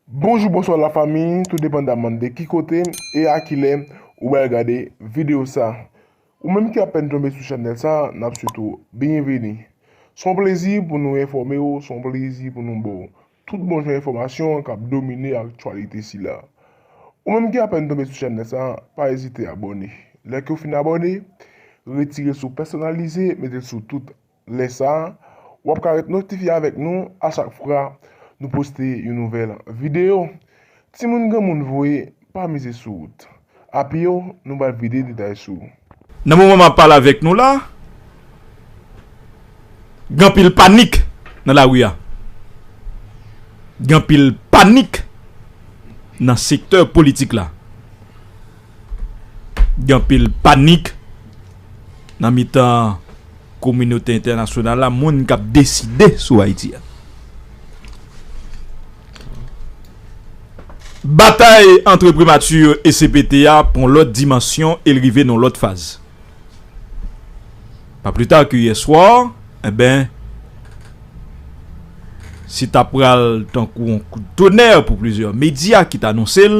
Bonjou bonswa la fami tou depandaman de ki kote e a kilè ou bal gade video sa ou menm ki apèn tonbe sou chanèl sa nap swete w byenveni son plezi pou nou enfòme w son plezi pou nou baw tout bon jan enfòmasyon kap domine aktyalite sila ou menm ki apèn tonbe sou chanèl sa pa ezite abòne lè ke w fin abòne retire sou pèsonalize mete l sou tout Lè sa, wap ka ret notifye avèk nou a chak fra nou poste yon nouvèl video. Timoun granmoun voye pa mize sou wout a pye w nou bal vide detay sou ou. Nan moman map pale avèk nou la, gen anpil panik nan lari a. Gen anpil panik nan sektè politik la. Gen anpil panik nan mitan kominote entènasyonal la, moun k ap deside sou Ayiti a. Batay antre primati e cpt a pran lòt dimansyon e l rive nan lòt faz. Pa pli ta ke yè swa, enben, se ta pral tankou yon kout tonè pou plizyè medya ki t anonse l,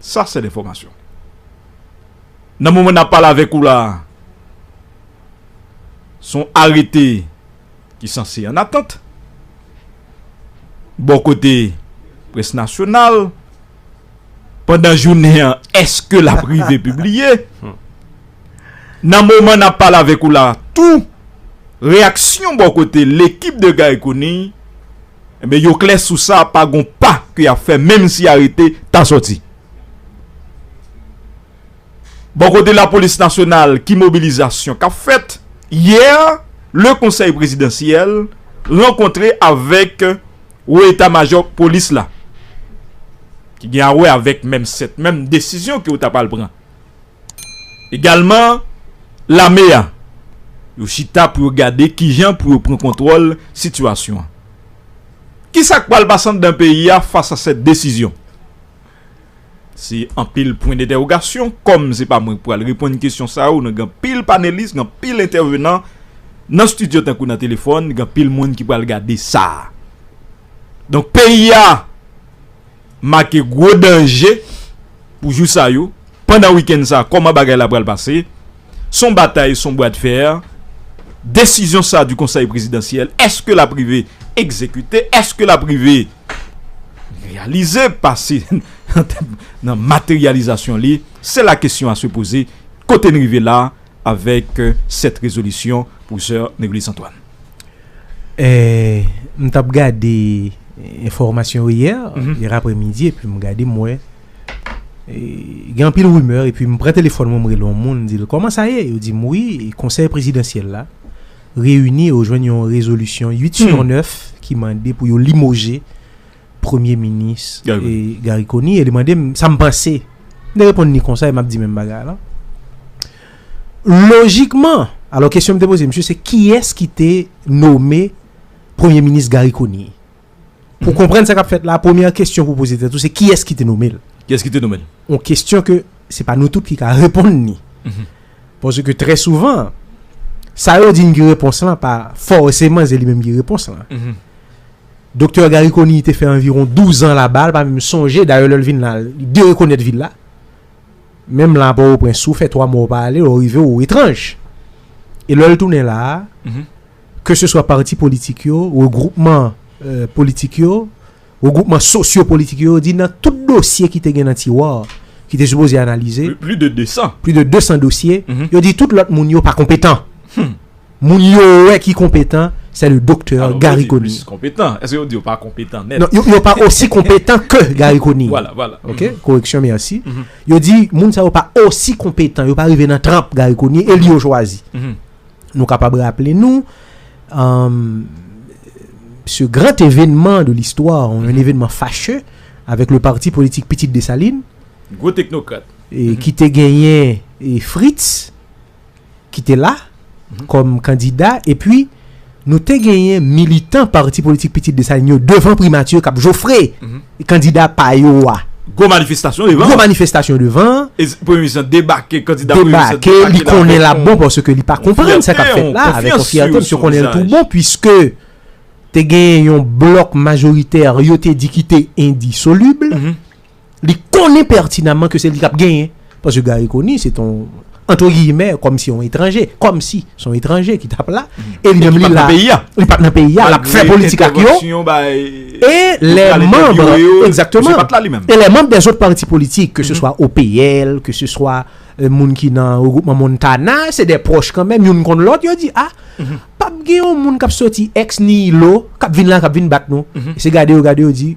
Sa sèl enfòmasyon. Nan moman n ap pale avèk ou la a, s on arete ki sanse an atant. Bò kote près nasyonal, pandan jounen an, èske l ap rive pibliye? Nan moman n ap pale avèk ou la a tou, reyaksyon bò kote lekip de Gary Conille, Enben yo klè sou sa pa gon pa ke yap fè menm si arete ta sòti. Bò kote lapolis nasyonal ki mobilizasyon kap fèt? Yè le konsèy prezidansyèl rankontre avèk wo eta majò polis la ki gen a wè avèk menm 7 menm desizyon ke yo ta pral pran. Egalman, lame a, yo chita pou yo gade kijan pou yo pran kontwòl sitiyasyon an. Kisa k pral pase anndan peyi a fas a sèt desizyon? Se anpil pwen dentèwogasyon, kòm se pa mwen k pral reponn kesyon sa yo nan gen anpil panelis, gen anpil entèvenan nan stidyo tankou nan telefòn, gen anpil moun ki pral gade sa. Donk peyi a. make gwo danje pou jou sa yo pandan wikenn sa a kòman bagay la pral pase s on batay s on bwa de fer desizyon sa di konsèy prezidansyèl èske l ap rive egzekite èske l ap rive reyalize pase nan materyalizasyon li se la kesyon a se poze kote n rive la a. Avèk 7 rezolisyon pwofesè Nerulis Antoine. Eeh m tap gade enfòmasyon yo yè, yè aprè midi epi m gade m wè gen anpil rimè epi m pran telefòn mwen m rele yon moun m di l kòman sa ye yo di m wi konsèy prezidansyèl la reyini e yo jwenn yon rezolisyon 8 sur 9 ki mande pou yo limoje Premye minis Garry Conille e li mande m sa m panse. M te reponn ni konsa e m ap di menm bagay la. Lojikman, alò kesyon m te poze misye se kiyès ki te nome premye minis Garry Conille? Pou konprann sa k ap fèt la, premyè kesyon pou w poze tèt ou se kiyès ki te nome l? Kiyès ki te nome l? Yon kesyon ke se pa nou tout ki ka reponn ni. Paske trè souvan, sa yo di n ki repons lan pa fòseman se li menm ki repons lan. Doktè Garry Conille te fè anviwon douzan laba, li pa menm sonje, dayè lè l vin la, li derekonèt vil la. Menm la a Pòtoprens, si w fè twa mwa ou pa ale, lè w rive ou etranj. E lè l tounen la a, keseswa pati politik yo, regwoupman politik yo, Regwoupman sosyo-politik yo di nan tout dosye ki te gen nan tiwa ki te sipoze analize, pli de 200 dosye, yo di tout lòt moun yo pa konpetan. Moun yo wè ki konpetan, se le doktè Gary Conille. Non, yo pa osi konpetan ke Gary Conille. Koreksyon, mèsi. Yo di moun sa yo pa osi konpetan, yo pa rive nan tranp Gary Conille e li yo chwazi. Nou kapab raple nou, ce grand événement de l'histoire, un événement fâcheux, avec le parti politique Pitit Dessalines, Gwo teknokrat. ki te genyen Fritz, ki te la, kòm kandida, epi nou te genyen militan parti politik Pitit Dessalines yo devan primati k ap jofre! kandida pa yo a. Gwo manifestasyon devan. Gwo manifestasyon devan. E premye minis lan debake, kandida premye minis lan debake. Debake, li konnen la bon paske li pa konprann sa k ap fèt la. Avèk yon fyète, misye konnen l tou bon pwiske te gen yon blòk majoritè yo te di ki te endisolib. Li konnen pètinamman ke se li k ap genyen. Paske Gary Conille se t on, antre giyimè, kòm si yon etranje, kòm si s on etranje ki t ap la, e li menm li la, li pa t nan peyi a, l ap fè politik ak yo, e lè manb, egzakteman, e lè manb dèzot pati politik, ke se swa OPL, ke se swa moun ki nan Regroupman Montana, se dè pwòch kan menm, youn konn lòt, yo di, a, p ap gen yon moun k ap soti ex nihilo, k ap vin la, k ap vin bat nou, se gade yo, gade yo di,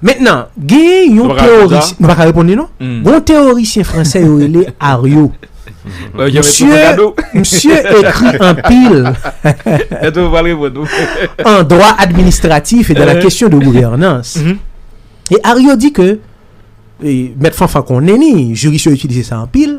Mentnan, genyen yon teworisyen, nou pa ka reponn li non, gen yon teworisyen fransè yo rele Ario. Msye ekri anpil an dwa administratif e dan la kesyon de gouvènans. E Ario di ke, mèt Fanfan konnen li, jiris yo itilize sa anpil,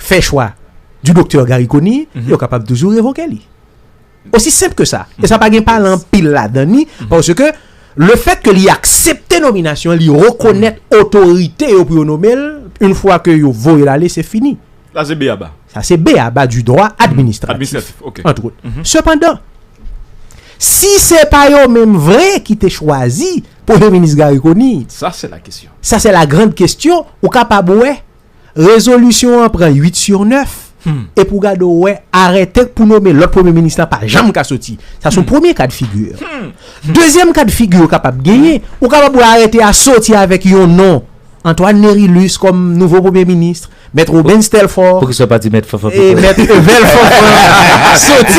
fè chwa di doktè Garry Conille, yo kapab toujou revoke li. Osi senp ke sa. E sa pa gen pale anpil ladan ni, paske le fèt ke li aksepte nominasyon, li rekonèt otorite yo pou yo nome l, yon fwa ke yo voye l ale, se fini. Sa se b-a-ba. Sa se b-a-ba di dwa administratif. Administratif, ok. Antre ote. Sepandan, si se pa yo menm vre ki te chwazi Premye Minis Garry Conille. Sa se la kesyon. Sa se la grand kesyon, ou kapab wè. Rezolisyon an pran 8 sur 9, epi ou gade ou wè arète pou nome lòt premye minis la pa janm ka soti. Sa son premye ka de figi. Dezyèm ka de figi ou kapab genyen, ou kapab wè arète a soti avèk yon non Antoine Nerilus kòm nouvo premye minis, mèt Robens Telfort, Poukisa ou pa di mèt Fanfan Pitre? e mèt Evel Fanfan soti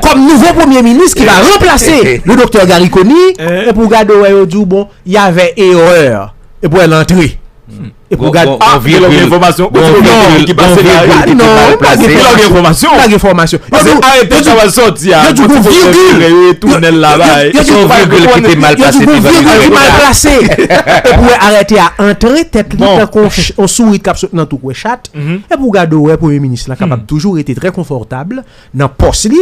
kòm nouvo premye minis ki va ranplase le doktè Garry Conille, epi ou gade ou wè yo di ou bon, Yavè erreur e pou el antre. E pou gad ah gen lòt enfòmasyon ou twò gen moun ki pase la wi ah non ou pa gen lòt enfòmasyon ou pa gen enfòmasyon pase arete yo twò sòti a yo di gon virgil yo di gon virgil ki te mal pase yo di gon virgil ki mal pase e pou arete a antre tèt li tankou yon sourit kap sot nan tou kwe chat e pou gad ou wè premye minis la kapab toujou rete trè konfòtab nan pòs li.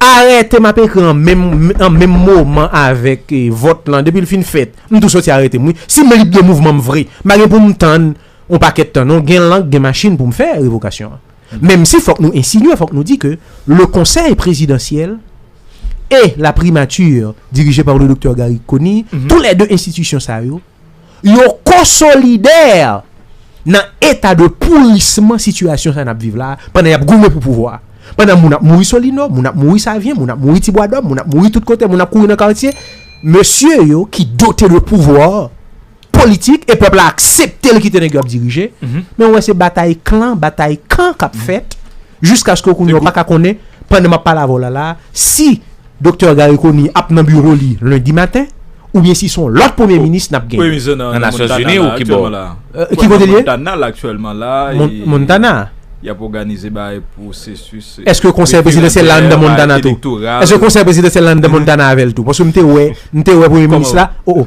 Arete map ekri an an menm moman avek vot lan depil fin fet m tou soti aretem wi sim lib de mouvman m vre m pa gen poum tann on paket tan non gen lank gen machin poum fè revokasyon an menm si fok nou ensinye fok nou di ke le konsey prezidansyel e la primature dirije par le doktè Gary Conille tou le 2 enstitisyon sa yo. yo konsolider nan eta de pourisman sitiyasyon sa nap viv la, pandan yap goumen pou pouvwa, pandan moun ap mouri Solino, moun ap mouri Savyen, moun ap mouri Ti Bwadòm, moun ap mouri tout kote, moun ap kouri nan kartye, mesye yo ki dote de pouvwa politik e pèp la aksepte l kite nèg yo ap dirije, men ou wè se batay klan, batay kan kap fèt, jiskaske ou kounye ou paka konnen, pandan map pale avè w la la, si. Doktè Garry Conille ap nan biwo li lendi maten oubyen si son lòt premye minis nap gen? Nan Nasyon Zini ou kibò? Ki kote li ye? Montana? Eske konsèy prezidansyèl la anndan Montana tou? Eske konsèy prezidansyèl la anndan Montana avèl tou? Paske m te wè m te wè premye minis la o o.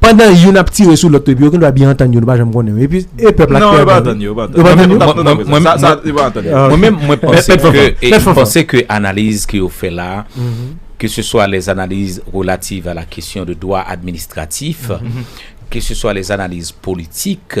Pandan youn ap tire sou lòt epi yo gendwa byen antann yo nou pa janm konnen yo epi e pèp la ki pèdi. Non yo pa antann yo, yo pa antann yo. Mwen menm mwen panse ke e mwen panse ke analiz ke yo fè la ke se swa lè analiz relativ a la kesyon de dwa administratif ke se swa lè analiz politik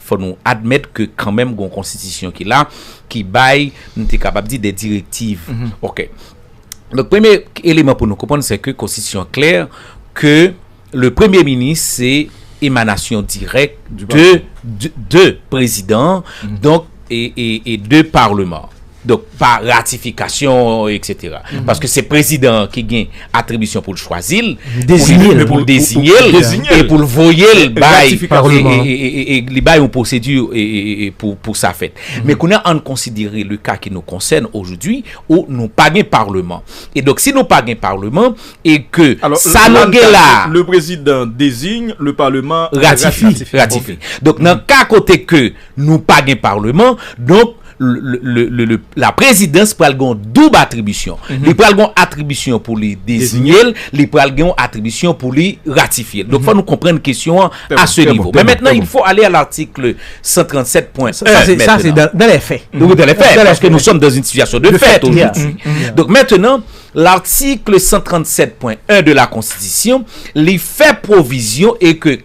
Fò nou admèt ke kanmenm gon konstitisyon ki la, ki bay, nou te kapab di, de direktiv. Ok. Donk premye eleman pou nou konprann se ke konstitisyon an klè ke le premye minis se emanasyon dirèk de prezidan an, donk e de parleman an. Donk pa ratifikasyon etc. Paske se prezidan an ki gen atribisyon pou l chwazi l, pou l dezinye l, e pou l voye l bay, e li bay yon pwosedi pou sa fèt. Men kounye a an n konsidere le ka ki nou konsène ojoudwi ou nou pa gen parleman. E donk si nou pa gen parleman e ke sa nou gen la. Le prezidan dezigne, le parleman ratifie. Donk nan ka kote ke. Nou pa gen parleman, donk la prezidans pral gen yon doub atribisyon. Li pral gen yon atribisyon pou li dezinye l, li pral gen yon atribisyon pou li ratifye l. Donk fò nou konprann kesyon an a se nivo. Men mentnan il fò ale a l'article 137 pwen 1 mentnan. Sa se dan lè fè. Ou dan lè fè, paske nou sòm dan yon sitiyasyon de fèt ojoudwi. Donk mentnan, l'article 137 pwen 1 de la konstitisyon li fè pwovizyon e ke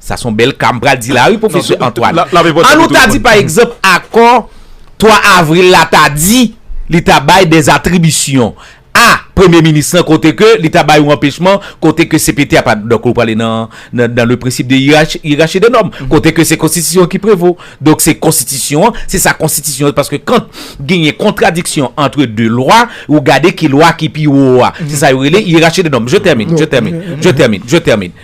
Sa son bèl ka m pral di la wi pwofesè Antwàn. An nou ta di pa egzanp akò 3 avril la ta di li ta bay dè atribisyon a premye minis lan kote ke li ta bay yon anpechman kote ke CPT a pa donk nou prale nan nan le prensip de yerachi de nòm kote ke se konstitisyon an ki prevo donk se konstitisyon an se sa konstitisyon paske kant genyen kontradiksyon antre 2 lwa ou gade ki lwa ki pi wo a se sa yo rele yerachi de nòm je tèmine je tèmine je tèmine je tèmine.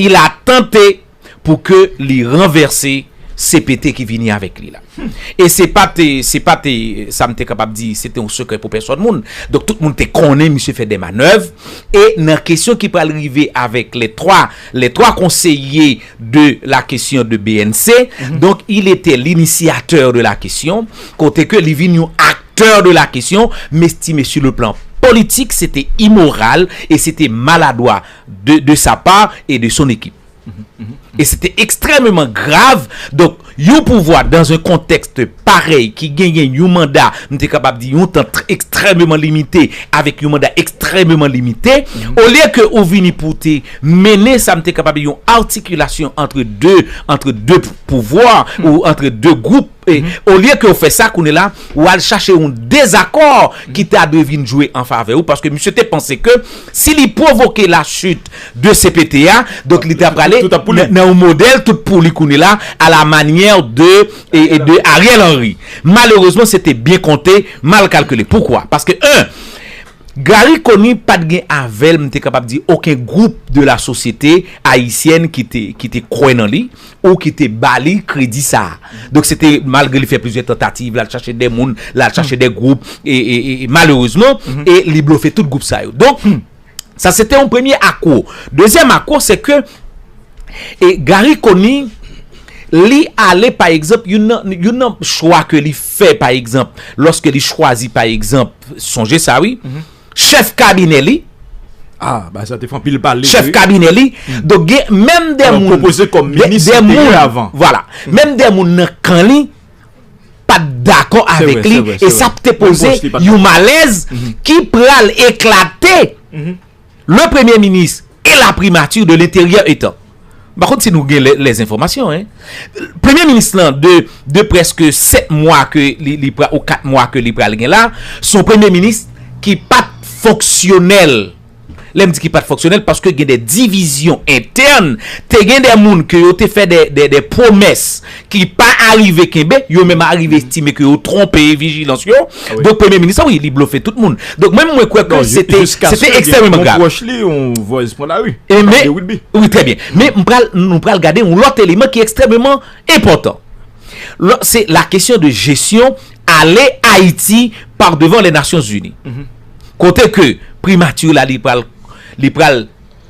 Il a tante pou ke li ranvèse CPT ki vini avèk li la. E se pa te, se pa te, sa m te kapab di, se te yon sekrè pou pèsòn moun. Donk tout moun te konnen misye fè de manèv. E nan kesyon ki pral rive avèk lè 3, lè 3 konseye de la kesyon de BNC, donk il etè linisyatè de la kesyon, kote ke li vin yon aktè de la kesyon, mestime su le plan politik, se te imoral e se te maladwa. de de sa part et de son équipe et c'était extrêmement grave donc yon pouvwa dans un contexte parèy ki genyen yon manda m te kapab di yon tan extrêmement limite avèk yon manda extrêmement limite olye ke ou vini pou te mennen sa m te kapab di yon articulation entre deux entre deux pouvwa ou entre deux groupe E olye ke ou fè sa kounye la, ou al chache yon dezakò ki ta dwe vin jwe an favè ou paske misye te panse ke si li pwovoke la chute de cpt a, donk li ta prale nan yon modèl tout pou li kounye la a la manyè de de Ariel Henry. Malerezman se te byen konte, mal kalkile. Poukwa? Paske 1, Garry Conille pa t gen avè l m te kapab di oken gwoup de la sosyete ayisyèn ki te ki te kwè nan li. Ou ki te ba li kredi sa a. Donk se te malgre li fè plizyè tantativ, l al chache de moun, l al chache de gwoup, e malerezman, e li blofe tout gwoup sa yo. Donk, sa se te yon premye akwo. Dezyèm akwo se ke e Gary Conille li ale pa egzanp youn nan youn nan chwa ke li fè pa egzanp lòske li chwazi pa egzanp sonje sa wi Chèf kabinè li. Ah, bagay sa te fè anpil pale. Chèf kabinè li. Donk gen menm de moun. Alò pwopoze kòm minis li te ye avan. Vwala. Menm de moun nan kan li pat dakò avèk li. Se vre, se vre. E sa te poze yon malèz ki pral eklate. Le premye minis. E la primature de l'interieur etant. M pa konn si nou gen les informations hein. Premye minis lan de preske 7 mwa ke li pral ou 4 mwa ke li pral gen la, son premye minis ki pat fonksyonèl. Lè m di ki pat fonksyonèl paske gen de divizyon entèn, te gen de moun ke yo te fè de pwomès. ki pa arive kenbe, yo menm arive estime ke yo twonpe vijilans yo, donk premye minis la wi li blofe tout moun, donk mwen mwen kwè ke se te ekstrèmeman grav. Wi trè byen, men nou pral gade yon lòt eleman ki ekstrèmeman enpòtan, se la kesyon de jesyon ale Ayiti par devan le Nasyon Zini, kote ke primati la li pral.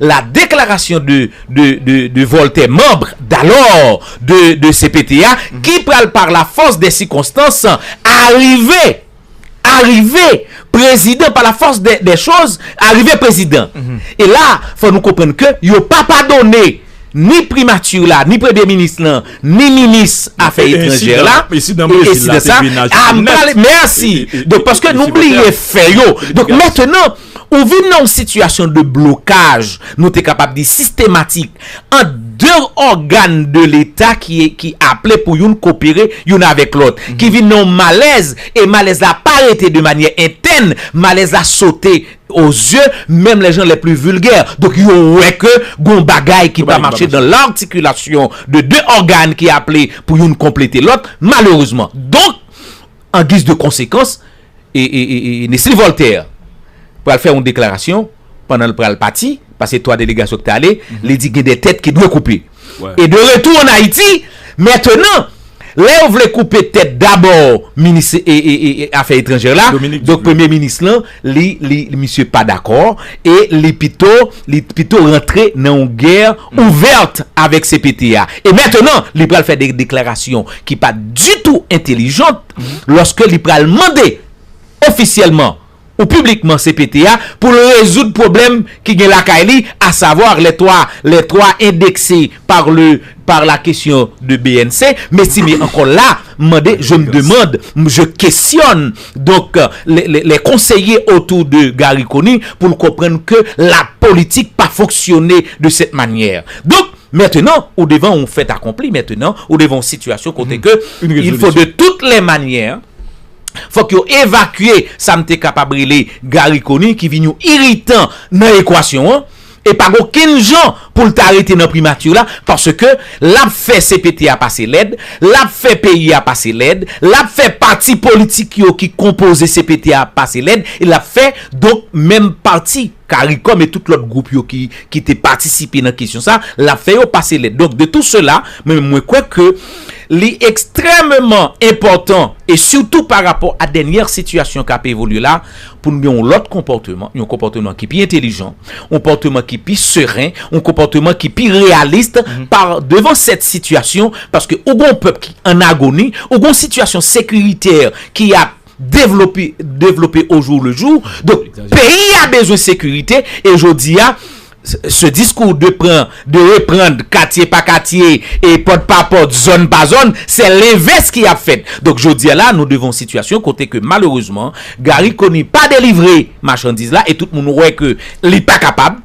La déclaration de de de de Voltaire membre d'alors de de cpt a ki pral par la force des circonstances arrive arrive prezidan par la force des des choses arrive prezidan e la fò nou konprann ke yo pa padone ni primature la ni premye minis lan ni minis afè etranjè la e ensidan sa a m pale merci donk paske nou bliye fè yo donk maintenant Ou vin nan yon sitiyasyon de blokaj, nou te kapab di sistematik, ant de ògàn de Leta ki aple pou youn kopere youn avèk lòt, ki vin nan yon malèz, e malèz la pa rete de manyè entèn, malèz la sote o zye menm lè jan lè pli vilgè. Donk yo wè ke gon bagay ki pa mache dan lartikilasyon de de ògàn ki aple pou youn konplete lòt, malerezman. Donk, an giz de konsekans, Nesly Voltaire pral fè yon deklarasyon pandan l pral pati, pase 3 delegasyon ki te ale, li di gen de tèt ki dwe koupe. E de retou an Ayiti, mentenan, lè yo vle koupe tèt dabò minis afè etranjè la, donk premye minis lan, li, li, misye pa dakò e li pito, li pito rantre nan yon gè ouvèt avèk cpt a. E mentenan, li pral fè de deklarasyon ki pa ditou entelijant. lòske li pral mande ofisyèlman ou piblikman cpt a pou l rezoud pwoblèm ki gen lakay li a savoir les trois les trois indexés par le par la question de bnc mesi me ankò la m mande je m demande m je questionne donc les les les conseillers autour de Garry Conille pou l konprann ke la politique pa fonctionner de cette manière donc Mètenan, ou devan oun fèt akonpli, mètenan, ou devan oun sitiyasyon kote ke il fo de tout lè manyè, fòk yo evakye sa m te kapab rele Gari Koni ki vin yon iritan nan ekwasyon an, e pa gen okenn jan pou l ta rete nan Primati la, paske l ap fè CPT a pase lèd, l ap fè peyi a pase lèd, l ap fè pati politik yo ki konpoze CPT a pase lèd, e l ap fè donk menm pati. Caricom e tout lòt gwoup yo ki ki te patisipe nan kesyon sa, l ap fè yo pase lèt. Donk, de tou sela, mwen menm mwen kwè ke li ekstrèmeman enpòtan e sitou pa rapò a dènyè sitiyasyon k ap evolye la pou n gen yon lòt konpòteman, yon konpòteman ki pi entelijan, yon pòteman ki pi seren, yon konpòteman ki pi reyalis pa devan sèt sitiyasyon paske ou gen yon pèp ki an agoni, ou gen yon sitiyasyon sekiritè ki ap. devlope o jou le jou donk peyi a bezwen sekirite e jodi a se diskou de pran de reprand katye pa katye e pòt pa pòt zòn pa zòn se lenvès ki ap fèt donk jodi a la nou devan yon sitiyasyon kote ke malerezman Garry Conille pa delivre machandiz la e tout moun wè ke li pa kapab.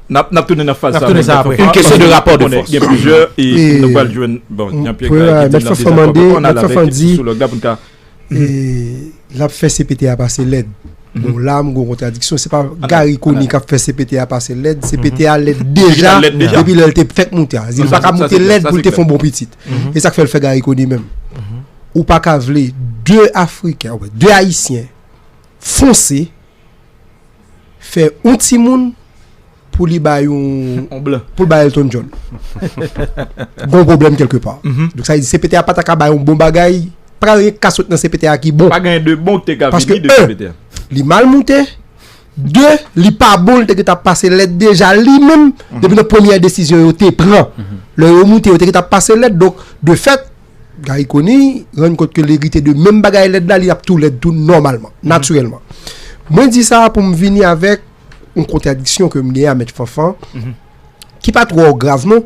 Nap nap tounen nan faz sa apre. Paske gen plizyè e nou pral jwenn bon Jean Pierre Graille ki di nan dezakò men fò ann al avèk psikològ la pou n ka L ap fè CPT a pase lèd Bon la m gen yon kontradiksyon se pa Garry Conille k ap fè CPT a pase lèd CPT a lèd deja depi lè l te fèk moute a li pa ka moute lèd pou l te fè yon bon pitit e sa k fè l fè Garry Conille menm Ou pa ka vle 2 afriken 2 ayisyen fonse fè yon timoun pou li bay yon yon blan pou l bay Elton John gon pwoblèm kèlke pa donk sa vle di CPT a pa ta ka bay yon bon bagay pa ka gen anyen k ka sot nan CPT a ki bon pa gen de bon k te ka vini de CPT a paske 1 li mal moute 2 li pa bon l te gentan pase lèd deja li menm depi nan premyè desizyon yo te pran lè yo moute yo te gentan pase lèd donk de fèt. Gary Conille rann kont ke l erite de menm bagay lèd la, li ap tou lèd tou nòmalman, natirèlman. Mwen di sa a pou m vini avèk yon kontradiksyon ke m gen a Mèt Fanfan, ki pa twò grav non,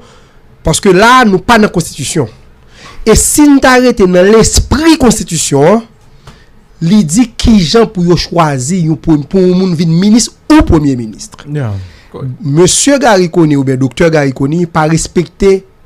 paske la a nou pa nan konstitisyon. E si n ta rete nan lespri konstitisyon an, li di ki jan pou yo chwazi yon, pou yon moun vin minis ou premye minis. Mesye Gary Conille oubyen doktè Gary Conille pa respekte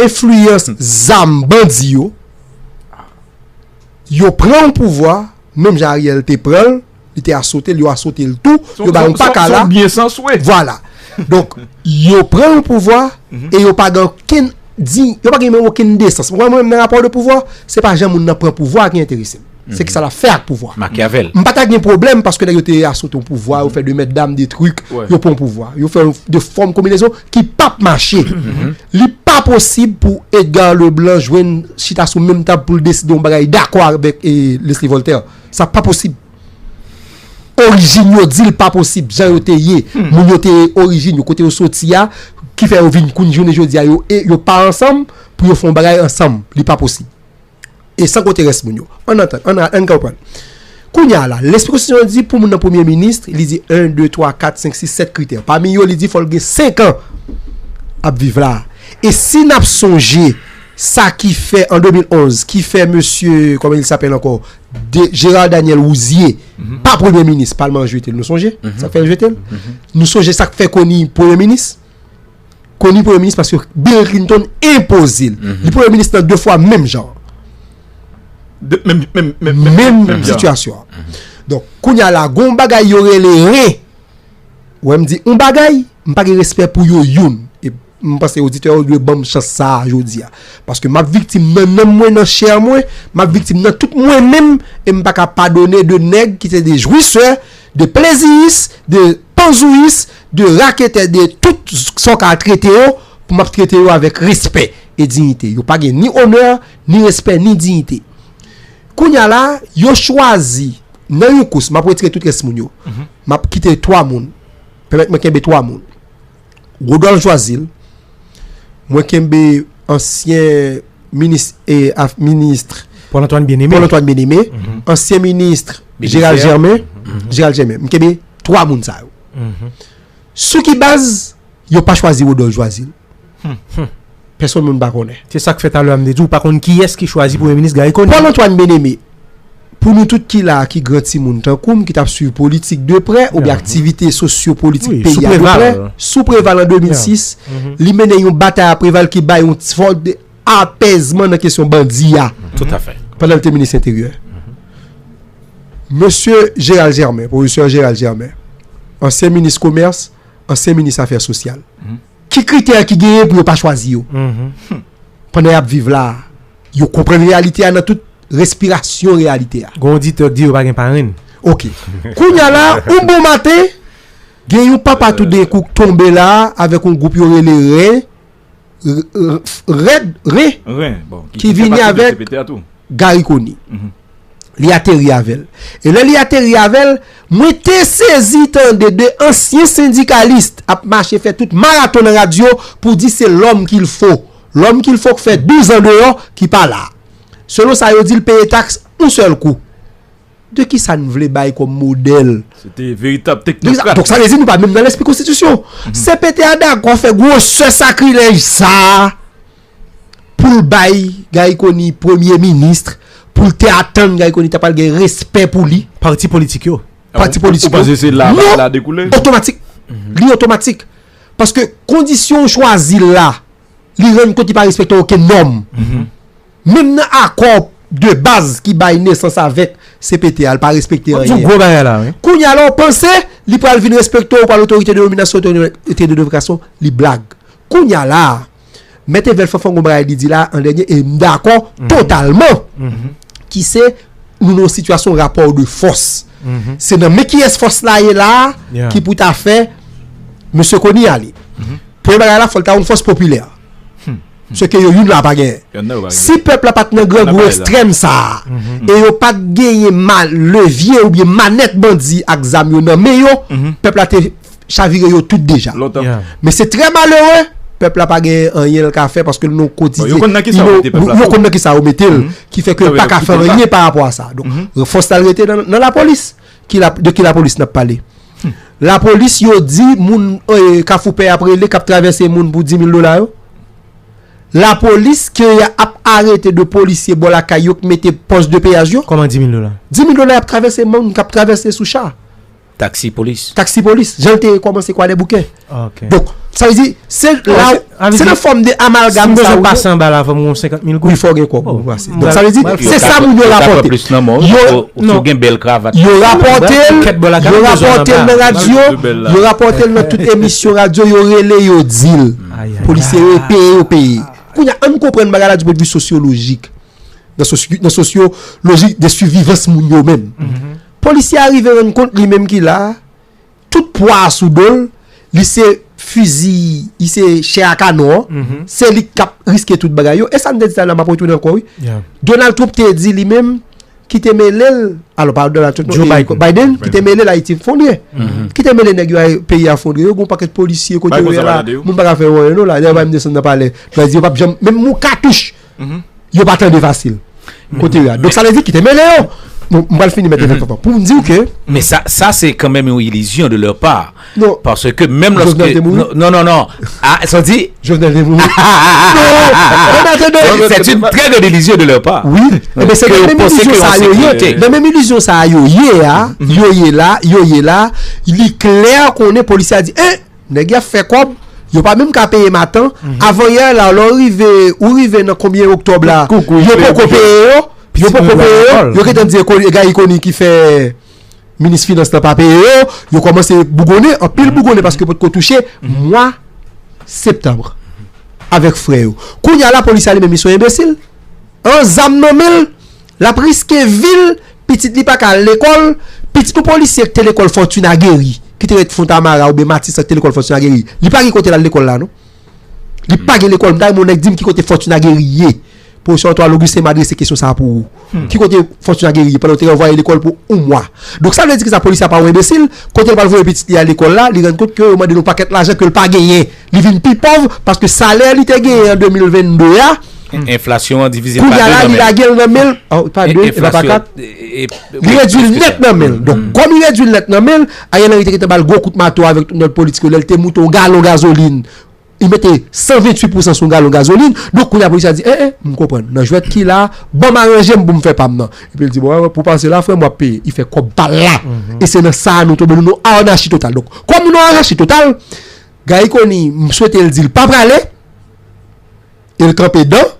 Enfliyans zam bandi yo, yo pran yon pouvwa, menm jan Ariel te pran l, li te asote l, yo asote l tou, yo ba yon pakala. Son byen san swe. Vwala. Donk, yo pran yon pouvwa, e yo pa gen okenn, di, yo pa gen menm okenn desans. Mwen menm nan rapò de pouvwa, se pa jan moun nan pran pouvwa a ki enterese m. Se ki sa lap fè ak pouvwa. Machiavel. M pa ta gen pwoblèm paske nèg yo te asot yon pouvwa, yo fè de mètdam, de trik, yo pran yon pouvwa. Yo fè de fòm konbinezon ki pap mache. Li pa posib pou Edgar Leblanc jwenn chita sou menm tab pou l deside yon bagay dakò avèk Leslie Voltaire. Sa pa posib. Orijin yo di l pa posib. Jan yo te ye. Moun yo te ye orijin yo. Kote yo soti a. Ki fè yo vin kounn jounen jodi a yo e yo pa ansanm pou yo fè yon bagay ansanm. Li pa posib. E san konte rès moun yo. An nan tan, an nan, an konprann. Kounye a la, lespri konstitisyon an di pou moun nan premye minis, li di 1, 2, 3, 4, 5, 6, 7 kritè. Pami yo, li di fò l gen 5 an ap viv la. E si n ap sonje sa ki fè an 2011, ki fè mesye, kòman il sapèl ankò, Gérard Daniel Rouzier, pa premye minis, palman an jete l, nou sonje sa k fè l jete l? Nou sonje sa k fè Conille premye minis? koni premye minis paske Bill Clinton enpoze l. Li premye minis nan 2 fwa menm jan an. Menm sitiyasyon an. Donk, kounye a la gon bagay yo rele re. Ou wè m di on bagay, m pa gen respè pou yo youn. E m panse oditè yo dwe ban m chans sa a jodi a. Paske m ap viktim nan nanm mwen, nan chè mwen, m ap viktim nan tout mwen menm e m pa ka padone 2 nèg ki se 2 jwisè, 2 pleziyis, 2. Panzouyis de raketè de tout sa w ka trete yo pou m ap trete yo avèk respè e diyite. Yo pa gen ni onè, ni respè, ni diyite. Kounye a la, yo chwazi nan yon kous, m ap wetire tout rès moun yo. M ap kite twa moun. Pèmèt mwen kenbe twa moun. Rodolphe Joazil, mwen kenbe ansyen minis e af ministre Paul Antoine Bien-Aimé, Paul Antoine Bien-Aimé, ansyen ministre Gérald Germain, Gérald Germain, mwen kenbe 3 moun sa yo. Sou ki baz yo pa chwazi Rodolphe Joazil? Pèsonn moun pa konnen. Se sak fè talè a m te di w pa konn kiyès ki chwazi premye minis Garry Conille. Paul Antoine Bien-Aimé. Pou nou tout ki la a ki gran timoun tankou m ki t ap suiv politik de prè oubyen aktivite sosyopolitik peyi a de prè, sou Preval an 2006, li mennen yon batay a Preval ki bay yon ti fòm de apèzman nan kesyon bandi a pandan li te minis enteryè. Mesye Gérald Germain, pwofesè Gérald Germain, ansyen minis komès, ansyen minis afè sosyal, ki kritè ki genyen pou yo pa chwazi yo pandan y ap viv la a? Yo konprann reyalite a nan tout respirasyon reyalite a. Gon oditè k di yo pa gen parenn. Ok. Kounya la, yon bon maten, gen yon papa toudenkou k tonbe la avèk yon gwoup yo rele Ren, Rèd, Ren, ki vini avèk Gari Koni. Li ateri avè l. E lè li ateri avè l, mwen te sezi tande 2 ansyen sendikalist ap mache fè tout maraton nan radyo pou di se lòm ki l fo. Lòm ki l fòk fè 12 an deyò ki pa la. Selon sa yo di l peye taks yon sèl kou. De ki sa n vle bay kòm modèl? Se te veritab teknokrat. Donk sa vle di nou pa menm nan lespri konstitisyon. CPT a dakò fè gwosè sakrilèj sa a pou l bay Gary Conille premye ministre, pou l te atann Gary Conille ta pral gen respè pou li. Pati politik yo. Pati politik yo. Ou panse se la bagay la dekoule? Non! Otomatik. Li otomatik. Paske kondisyon ou chwazi l la, li rann kont li pa respekte okenn nòm. Menm nan akò de baz ki bay nesans avèk CPT a, li pa respekte anyen. Kounye a la ou panse li pral vin respekte ou, ou pral otorite denominasyon, otorite de devokasyon, li blag. Kounye a la a. Mèt Evel Fanfan gon bagay li di la an dènye e m dakò totalman ki se nou nan yon sitiyasyon rapò de fòs. Se nan men kiyès fòs la ye la ki pou ta fè mesye Kony ale. Premye bagay la fò l ta yon fòs popilè. Se ke yo youn la pa genyen. Si pèp la pa t nan grangou ekstrèm sa a e yo pa t genyen levye oubyen manèt bandi ak zam yo nan men yo, pèp la te. chavire yo tout deja. Men se trè malere, pèp la pa gen anyen l ka fè paske l nan kotidye. Yo konn nan ki sa yo mete pèp la. Yo konn nan ki sa yo mete l, ki fè ke l pa ka fè anyen pa rapò a sa. Donk fòs la rete nan lapolis. De ki lapolis n ap pale? Lapolis yo di moun kafou pè ap rele, k ap travèse moun pou 10 mil dola yo. Lapolis ke y ap arete de polisye bò lakay yo k mete pòs de peyaj yo. Kòman 10 mil dola? 10 mil dola y ap travèse moun k ap travèse sou cha. Taxi police. Taxi police, jan l te kòmanse kwadèboukè. Donk, sa vle di, se la w, se nan fòm de amalgam sa w. Si m bezwen pase anba la, fò m gen yon senkant mil goud? Wi, fò w gen kòb pou w pase. Donk, sa vle di, se sa moun yo rapòte. Yo, non, yo rapòte l, yo rapòte l nan radyo, yo rapòte l nan tout emisyon radyo, yo rele, yo di l. Polisye yo, yo peye, yo peye. Kounye a, an n konprann bagay la di pwennvi sosyolojik. Nan sosyo, nan sosyolojik de sivivans moun yo menm. Polisye a rive rann kont li menm ki la a, tout pwa a sou do l, li se fizi, li se chè a kanon an, se li k ap riske tout bagay yo. E sa m te di sa la, m ap retounen ankò wi, Donald Trump te di li menm ki te mele l, alò pa Donald Trump non, e Biden ki te mele l Ayiti efondre, ki te mele nèg yo peyi a efondre, yo gen yon pakèt polisye kote yo ye la, moun pa ka fè yo anyen non la, dayè yo pa menm desann nan palè, yo pa janm, menm yon katouch Yo pa tande fasil. Kote yo a. Donk sa vle di kite mele yo. M pral fini mèt evèk papa. Pou m di w ke. Men sa sa se kanmenm yon ilizyon de lè pa. Non. Paske menm lòske. Jovenel te mouri? Non non non. A sa w di? Jovenel te mouri. Non. Sè t'une trè grande ilizyon de lè pa. Wi. Ke yo panse ke yon sekirite. Nan menm ilizyon sa a yo ye a. Yo ye la. Yo ye la. Li klè konnen polisye a di. E! Nèg ya fè kòb, yo pa menm ka peye matan, avan yè la lè w rive, ou rive nan konbyen oktòb la, yo poko peye yo, yo poko peye yo, yo gentan di e Gayi Koni ki fè minis finans la pa peye yo, yo kòmanse bougonnen, anpil bougonnen paske potko touche mwa septanm avèk frè yo. Kounya lapolis la li menm li son enbesil? An zam nan men l? Lap riske vil, pitit li paka al lekòl, pitit yon polisye ki te lekòl Fortuna Guery, ki te ret Fontamara oubyen Matisan ki te lekòl Fortuna Guery, li pa gen kote lal lekòl la non. Li pa gen lekòl, m ta renmen yon nèg dim ki kote Fortuna Guery ye. Professeur Antoine Augustin m adrese kesyon sa pou ou. Ki kote Fortuna Guery ye pandan yo te ranvwaye lekòl pou yon mwa. Donk sa vle di ki sa polisye a pa yon enbesil, kote li pral voye pitit li a lekòl la, li rann kont ke yo mande li yon pakèt lajan ke li pa genyen. Li vin pi pòv paske salè li te genyen an 2022 a, Enflasyon an divize pa 2 nan men l. Kounye a la li lage l nan men l, pa 2, e pa 4, li redui l nèt nan men l. Donk, kòm li redui l nèt nan men l, Ariel Henry te gentan ba l gwo kout mato avèk tout nòt politik yo lè l te moute yon galon gazolin, li mete 128 pousan sou yon galon gazolin. Donk, kounye a polis la di, en en, m konprann, nan jwèt ki la a, ban m aranje m pou m fè pa m nan. Epi l di, bon, pou w pase la, frè m, w ap peye. Li fè kòb pa l la. E se nan sa a nou tonbe, nou nan yon anachi total. Donk, kòm nou nan yon anachi total, Gayi koni m swete l di l pa prale e l kanpe dan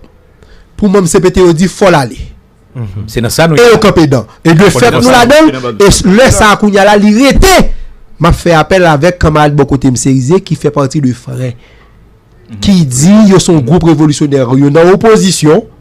pou manm cpt yo di fò l ale. Se nan sa nou ye la. E yo kanpe dan. E de fèt nou ladan l e lè sa a kounya la li rete. M ap fè apèl avèk kanmarad bò kote m Cerizé ki fè pati de frè ki di yo se yon gwoup revolisyonè yo nan opozisyon.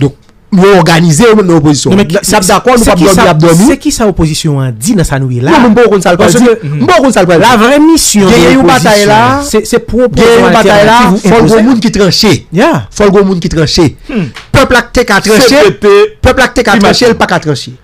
Donk, yo òganize yo menm nan opozisyon an. N ap dakò, nou p ap dòmi, y ap dòmi. Se ki sa opozisyon an di nan sa nou ye la a? Mwen m poko konn sa l pral di. M poko konn sa l pral di. La vrè misyon de opozisyon an, se pwopoze yon altènativ ou enpoze. Fò l gen moun ki tranche. Ya. Fò l gen moun ki tranche. Pèp la te ka tranche. CPT. Pèp la te ka tranche, l pa ka tranche.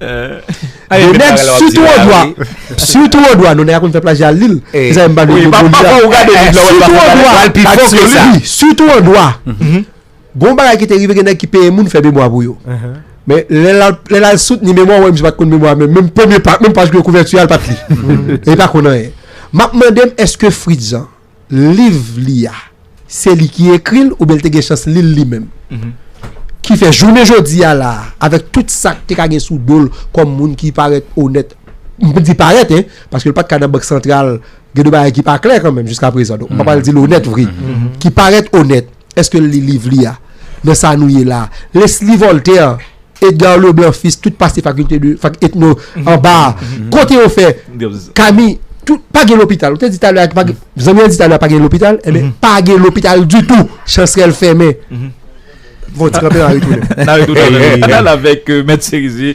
Yon nèg sitou ou dwa Sitou ou dwa Nou nèg a konn fè plajya al lil Mezanmi m pa vle nou konn sa Sitou ou dwa Wi sitou ou dwa Gon bagay ki te rive gen nèg ki peye moun fè memwa pou yo Men lè l ap lè l al soutni memwa ou wè misye pa t konn memwa menm Menm premye pa menm paj kouvèti a l pa t li Li pa konn anyen M ap mande m èske Fritz an liv li a, se li ki ekri l oubyen l te gen chans li l li menm. Ki fè jounen jodi a la a, avèk tout sa k te ka gen sou do l kòm moun ki parèt onèt, m di parèt, paske l pa t ka nan Bank Santral, gen de bagay ki pa klè kanmenm jiskaprezan, donk m pa pral di l onèt vre, ki parèt onèt. Èske l li liv li a? Nan sa nou ye la a, Leslie Voltaire, Edgar Leblanc Fils, tout pase fakilte de, fak etno, anba a. Kote yo fè? Kami, tout, pa gen lopital. Ou te di talè a ki pa gen, zanmi an di talè a pa gen lopital, enben, pa gen lopital ditou. Chansrèl fèmen. Bon, ti kanpe, n a retounen. N a retounen. N al avèk Mèt Serizier.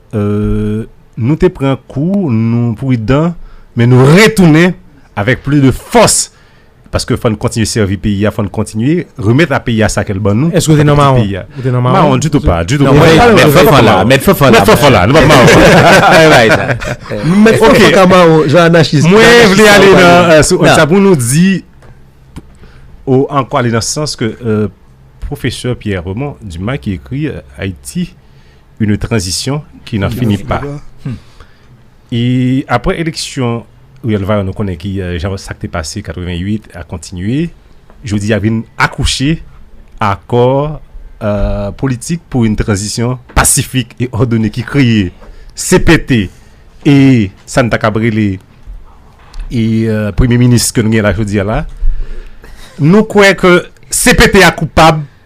Nou te pran kou, nou pridan, men nou retounen avèk plis de fòs paske fò n kontinye sèvi peyi a, fò n kontinye remèt a peyi a sa ke l ban nou. Èske w te nan mawon? Ou te nan mawon? Mawon ditou pa, ditou pa. Mèt Fanfan la, mèt Fanfan la. Mèt Fanfan la, nou pa mawon. Mèt Fanfan ka mawon, jan anachis. Mwen vle ale nan, sou sa pou nou di, ou ankò ale nan sans ke Pwofesè Pierre Raymond Dumas ki ekri Ayiti une transition ki nan fini pa. E apre eleksyon Riyèl Vayon nou konnen ki jan sa k te pase 88 a kontinye, jodi a vin akouche akò politik pou une transition pasifik e òdone ki kreye cpt e sa n ta kab rele e premye minis ke nou gen la jodi a la. Nou kwè ke cpt a koupab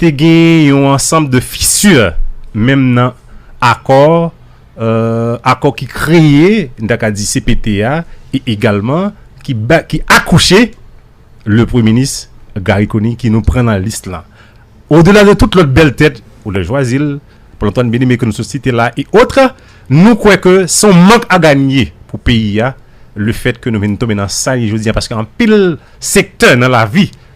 Te gen yon ansanm de fissures menm nan akò akò ki kreye n ta ka di cpt a e egalman ki ba ki akouche le premye minis Garry Conille ki nou pran nan lis lan o dela de tout lòt bèl tèt ou lè jwazil l Paul Antoine Bien-Aimé ke nou sot site la e otre nou kwè ke s on mank a ganye pou peyi a le fèt ke nou vin tonbe nan sa li jodi a paske anpil sektè nan lavi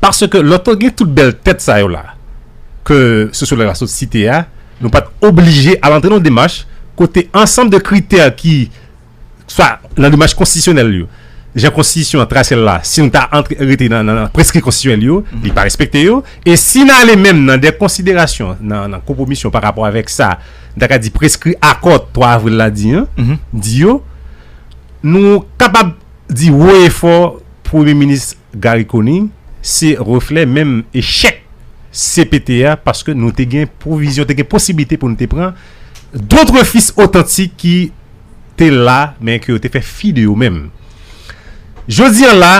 Paske lò te gen tout bèl tèt sa yo la ke sosyològ la sot site a, nou pa t oblije al antre nan yon demach kote ansanm de kritè ki swa nan demach konstitisyonèl yo, jan konstitisyon an trase l la, si nou ta antre rete nan preskri konstitisyonèl yo, li pa respekte yo. E si n ale menm nan de konsiderasyon, nan konpwomisyon pa rapò avèk sa n ta ka di preskri akò 3 avril la di an, di yo, nou kapab di wo e fò Premye Minis. Garry Conille se reflè menm echèk cpt a paske nou te gen pwovizyon, te gen posiblite pou nou te pran dotre fis otantik ki te la men ke yo te fè fi de yo menm. Jodi an la,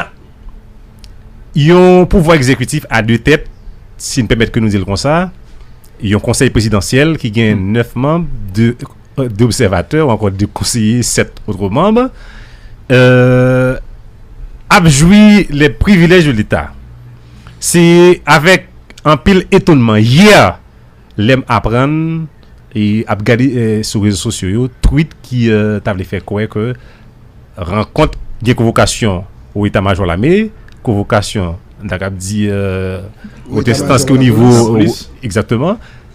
yon pouvwa egzekitif a de tèt, si n pèmèt ke nou di l konsa, yon konsèy prezidansyèl ki gen 9 manm, 2. 2 obsèvatè ou ankò 2 konseye 7 otre manb ap jwi lè privilèj de leta. Se avèk anpil etonman yè lè m aprann e ap gade sou rezo sosyo yo twit ki ta vle fè kwè ke rankont gen konvokasyon ou eta majò lame, konvokasyon n ta kab di ou te stanske ou nivo. Egzakteman.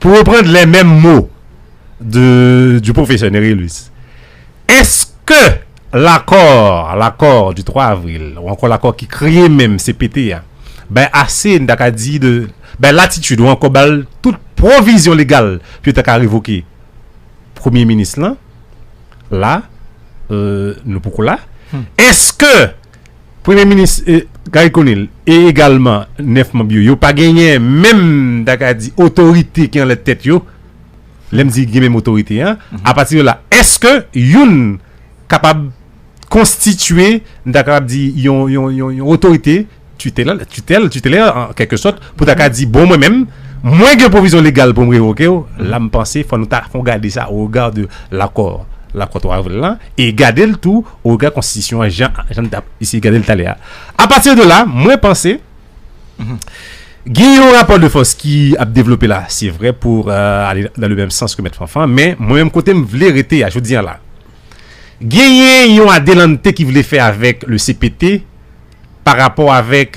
Pou reprann lè menm mo de du pwofesè Nerilus, èske lakò, lakò du 3 avril ou ankò lakò ki kreye menm cpt a bay ase, n ta ka di de, bay latitid ou ankò ba l tout pwovizyon legal pou yo ta ka revoke premye minis lan? La, nou poko la. Èske Premye minis Garry Conille e egalman 9 manb yo, yo pa genyen menm m ta ka di otorite ki anlè tèt yo, lè m di gen menm otorite an, apati de la èske youn kapab konstitye m ta kapab di yon yon otorite titela titèl titelè an kèlke sòt pou ta ka di bon mwen menm mwen gen pwovizyon legal pou m revoke w, la m panse fò nou ta fon gade sa o rega de lakò lakò 3 avril lan e gade l tou o regard konstitisyon an jan jan n tap eseye gade l talè a apati de la mwen panse gen yon rapò de fòs ki ap devlope la se vre pou ale nan le menm sans ke mèt Fanfan men mwen menm kote m vle rete a jodi an la genyen yon adelante ki vle fè avèk le CPT pa rapò avèk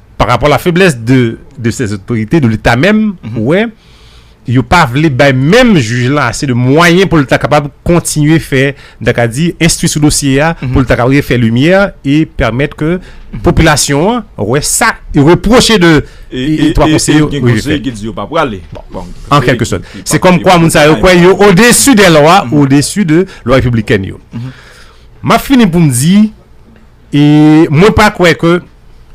Par rapport la faiblesse de de ces autorités, de l'Etat menm, ou wè, yo pa vle bay menm jij lan ase de mwayen pou l ta kapab kontinye fè, m ta ka di, enstwi sou dosye a, pou l ta kapab refè limyè e pèmèt ke popilasyon an wè sa yo repwoche de e 3 konseye yo. E gen konseye ki di yo pa prale. An kèlke sòt. Se kòm kwa moun sa yo kwè yo odesu dè lwa, odesu de lwa repiblikèn yo. M ap fini pou m di. E mwen pa kwè ke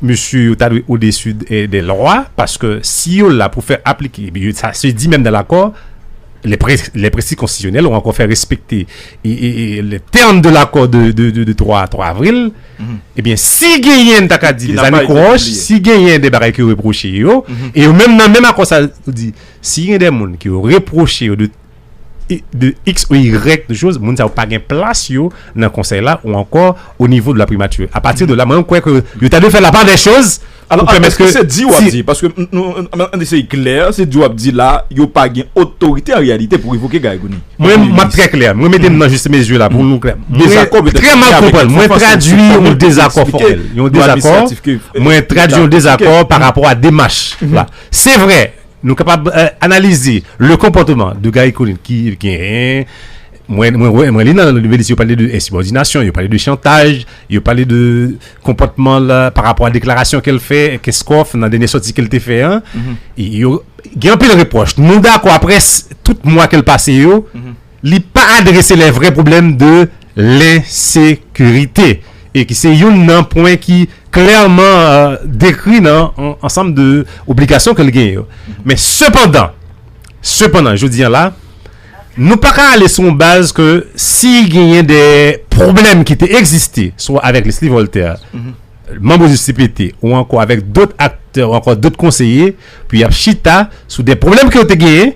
mesye yo ta dwe odesu dè lwa, paske si yo la pou fè aplike, epi sa se di menm nan lakò, lè prensip konstitisyonèl ou ankò fè respekte le term de l'accord de 3 avril, ebyen si genyen m ta ka di des anikroch, si genyen de bagay ke yo repwoche yo, e yo menm nan menm akò sa yo di, si gen de moun ke yo repwoche yo de. de x ou y choz moun sa yo pa gen plas yo nan konsèy la ou ankò o nivo de la primature a pati de la mwen kwè ke yo ta dwe fè la pa dè choz alò ke mèske se di wap di paske an eseye klè se di wap di la yo pa gen otorite an reyalite pou revoke Garry Conille mwen map trè klè mwen mete m nan jis mezi la pou nou klè mwen trè mal konprann mwen tradwi yon dezakò fòmèl yon dezakò mwen tradwi yon dezakò pa rapò a demach la se vre Nou kapab analize le konpòteman de Garry Conille ki gen, mwen li nan Nouvelliste yo pale de ensibòdinasyon, yo pale de chantaj, yo pale de konpòteman l pa rapò a deklarasyon ke l fè Kenscoff nan dènye sòti ke l te fè an. Gen anpil repwòch. Nou dakò aprè tout mwa ke l pase yo. Li pa adrese lè vrè pwoblèm de lensekirite e ki se youn nan pwen ki klèman dekri nan ansanm de obligasyon ke l genyen yo. Men sepandan, sepandan, jodi an la, nou pa ka ale sou yon baz ke si genyen de pwoblèm ki te egziste swa avèk Leslie Voltaire, manm OJCPT ou ankò avèk dòt aktè ou ankò dòt konseye pou y ap chita sou de pwoblèm ke yo te genyen,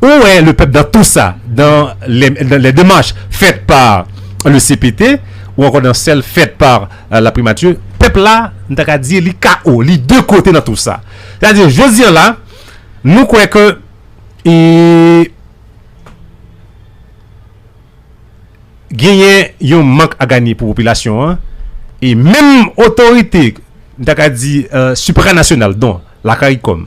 Ou wè le pèp dan tou sa, dan lè demach fèt pa le cpt ou ankò dan sèl fèt pa la primati, pèp la nou ta ka di li KO, li de kote nan tou sa. Se ta di jodi an la nou kwè ke e genyen yon mank a ganye pou popilasyon an e menm otorite nou ta ka di supranasyonal don la karikòm.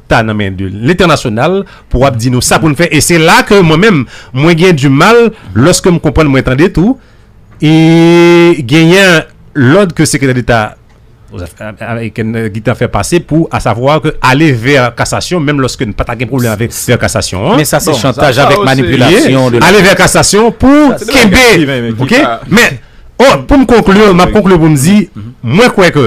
ta nan men de l'International pou ap di nou sa pou n fè e se la ke mwen menm mwen gen du mal loske m konprann mwen tande tou e genyen lòd ke Sekretè Deta Amerikèn nan gitan fè pase pou a savwa ke ale vè kasasyon menm loske n pa ta gen pwoblèm avè vè kasasyon an. Men sa se chantaj avèk manipilasyon de la. Ale vè kasasyon pou kenbe ok men pou m konklu m ap konklu pou m di mwen kwè ke.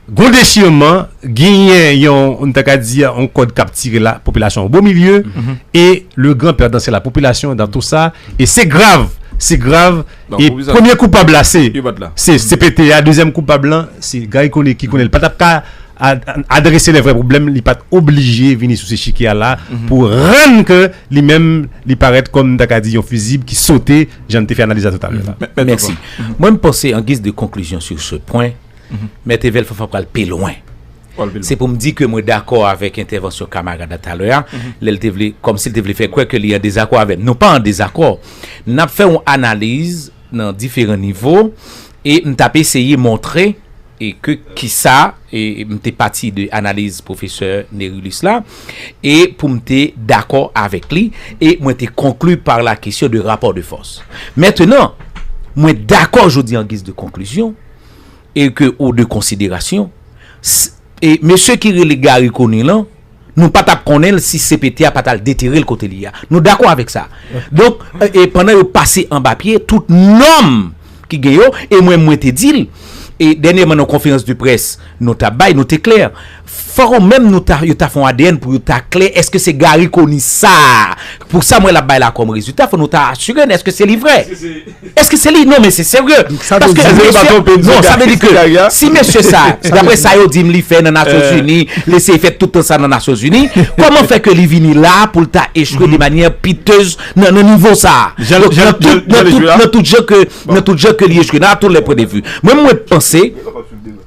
Gon dechirman, genyen yon, nou ta ka di yon kòd kap tire la popilasyon o bo milye, e le gran pèdan se la popilasyon dan tou sa, e se grav, se grav, e premye koupab la se se cpt a, dezyèm koupab lan se Garry Conille ki konnen li pa tap ka adrese le vrè pwoblèm, li pat oblije vini sou chikye a la pou rann ke li menm li parèt kòm nou ta ka di yon fizib ki sote jan nou te fè analiz la toutalè la. Mèsi. Mwen m panse an giz de konklizyon sou se pwen, Mhm. Mèt Evel Fanfan pral pi lwen. Se pou m di ke mwen dakò avèk entèvansyon kamarad la talè a, mhm. lè l te vle, kòm si l te vle fè kwè ke li an dezakò avèm. Nou pa an dezakò. N ap fè yon analiz nan diferan nivo, e m t ap eseye montre e ke ki sa, e m te pati de analiz pwofesè Nerilis la, e pou m te dakò avèk li, e mwen te konklu par la kesyon de rapò de fòs. Mètenan, mwen dakò jodi an giz de konklizyon, e ke ou de konsiderasyon s e mesye ki rele Garry Conille lan nou pa tap konnen l si CPT a pa tal detere l kote li ye a nou dakò avèk sa donk e pandan yo pase anba pye tout nòm ki gen yo e mwen mwen te di l e dènyèman nan konferans de près nou tap bay nou te klè. Fòk ou menm nou ta yo ta fon adn pou yo ta klè eske se Garry Conille sa a pou sam wè lap bay la kòm rezilta fò nou ta asire n eske se li vrè eske se li non men se serye paske non sa vle di ke si mesye sa daprè sa yo di m li fè nan nasyon zini l eseye fè tout tan sa nan nasyon zini kòman fè ke li vini la a pou l ta echwe de manyè pitez nan nan nivo sa a nan tout nan tout jan ke nan tout jan ke li echwe nan a tout lè pwen de vu mwen mwen panse.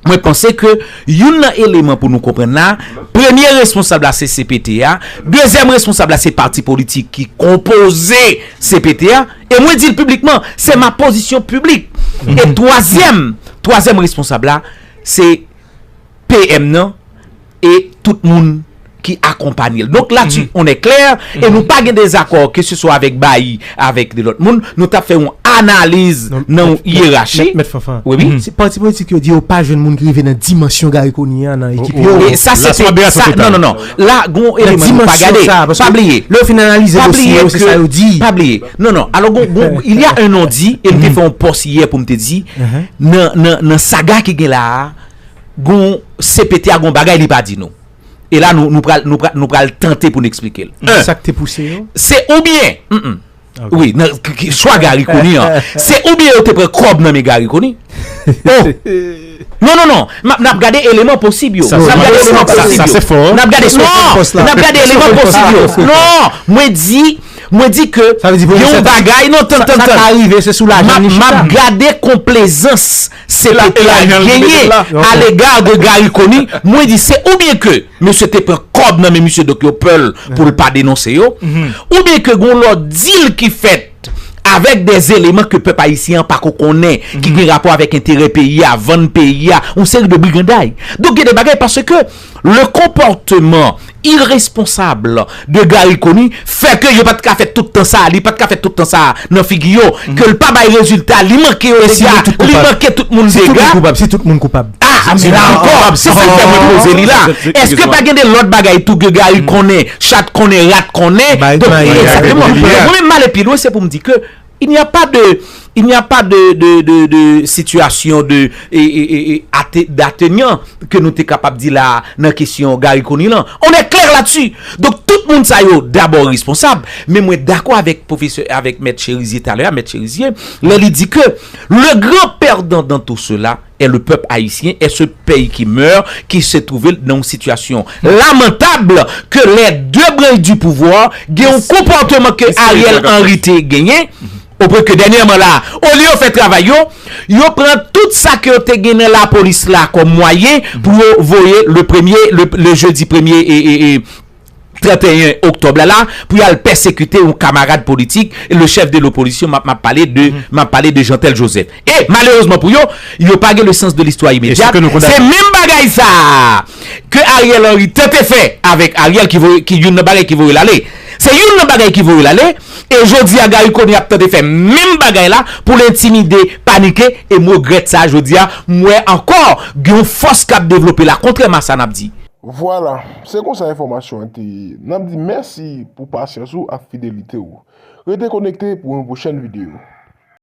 Mwen panse ke youn nan eleman pou nou konprann la, premye responsab la se cpt a, dezyèm responsab la se pati politik ki konpoze cpt a, e mwen di l piblikman, se ma pozisyon piblik, e twazyèm, twazyèm responsab la se PM nan, e tout moun ki akonpanye l. Donk la ti on è klè e nou pa gen dezakò ke se swa avèk bayi avèk de lòt moun, nou tap fè yon analiz nan yon yerachi. Mèt Fanfan. Wi wi. Se pati politik yo di yo pa jwenn moun ki rive nan dimansyon Garry Conille a nan ekip yo. E sa se te sa non non non. La gon yon eleman nou pa gade. Pa bliye. Lè yo fin analize dosye yo se sa yo di. Pa bliye. Non non. Alò gon gon il ya un non di e m te fè yon pòs yè pou m te di nan nan nan saga ki gen la a. Gon CPT a gon bagay li pa di nou. E la nou nou pral nou pral tante pou nou eksplike l. Ki sa k te pouse yo? Se oubyen m. Wi nan chwa Garry Conille an. Se oubyen yo te pran kòb nan men Garry Conille. O! Non non non. M ap n ap gade eleman posib yo. Sa se fo. N ap gade non. N ap gade eleman posib yo. Non. Mwen di mwen di ke gen yon bagay. Sa ka rive se sou lajan li chita. M ap gade konplezans. Se la ke a genyen a lega de Gary Conille, mwen di se ou byen ke mesye te pran kòb nan men misye dok yo pè l pou l pa denonse yo, ou byen ke gon lòt dil ki fèt avèk de eleman ke pèp ayisyen an pa ko konnen ki gen rapò avèk enterè peyi a, vann peyi a, yon seri de briganday. Donk gen de bagay paske. Le konpòteman iresponsab de Garry Conille fè ke yo pa t ka fè tout tan sa, li pa t ka fè tout tan sa nan figi yo, ke l pa bay rezilta, li manke yo dega, li manke tout moun dega. Si tout moun koupab? A! Men la ankò, se sa k fè mwen poze li la. Eske pa gen de lòt bagay tou ke Garry konnen, chat konnen, rat konnen? Donk, egzakteman. Mwen menm m ale pi lwen, se pou m di ke. Il n'y a pas de il n'y a pas de de de de situation de e e e e ate d'atenyant ke nou te kapab di la a nan kesyon Garry Conille lan. On est clair là-dessus! Donk tout moun sa yo dabò responsab, men mwen dakò avèk pwofesè avèk mèt Cherizier talè a, mèt Cherizier, lè li di ke le grand perdant dans tout cela, et le peuple haïtien est ce pey ki meur ki se trouve l nan yon situation lamentable ke les deux branches du pouvoir gen yon comportement ke Ariel Henry te genyen au point ke dernièrement la au lieu yo fè travail yo yo pran tout sa ke yo te gen nan la police la comme moyen pou yo voye le premier le jeudi premier et et et 31 oktòb la la pou y al pèsekite yon kamarad politik le chèf de lopolisyon m ap pale de m ap pale de Jeantel Joseph e malerezman pou yo yo pa gen le sans de listwa imedyat se menm bagay sa a ke Ariel Henry tante fè avèk Ariel ki voye ki youn nan bagay ki voye l ale se youn nan bagay ki voye l ale e jodi a Garry Conille ap tante fè menm bagay la pou l entimide panike e m regrèt sa jodi a m wè ankò gen yon fòs k ap devlope la kontrèman a sa n ap di. Vwala, se konsa enfòmasyon an te ye. N ap di mèsi pou pasyans ou ak fidelite ou. Rete konekte pou yon pwochèn videyo.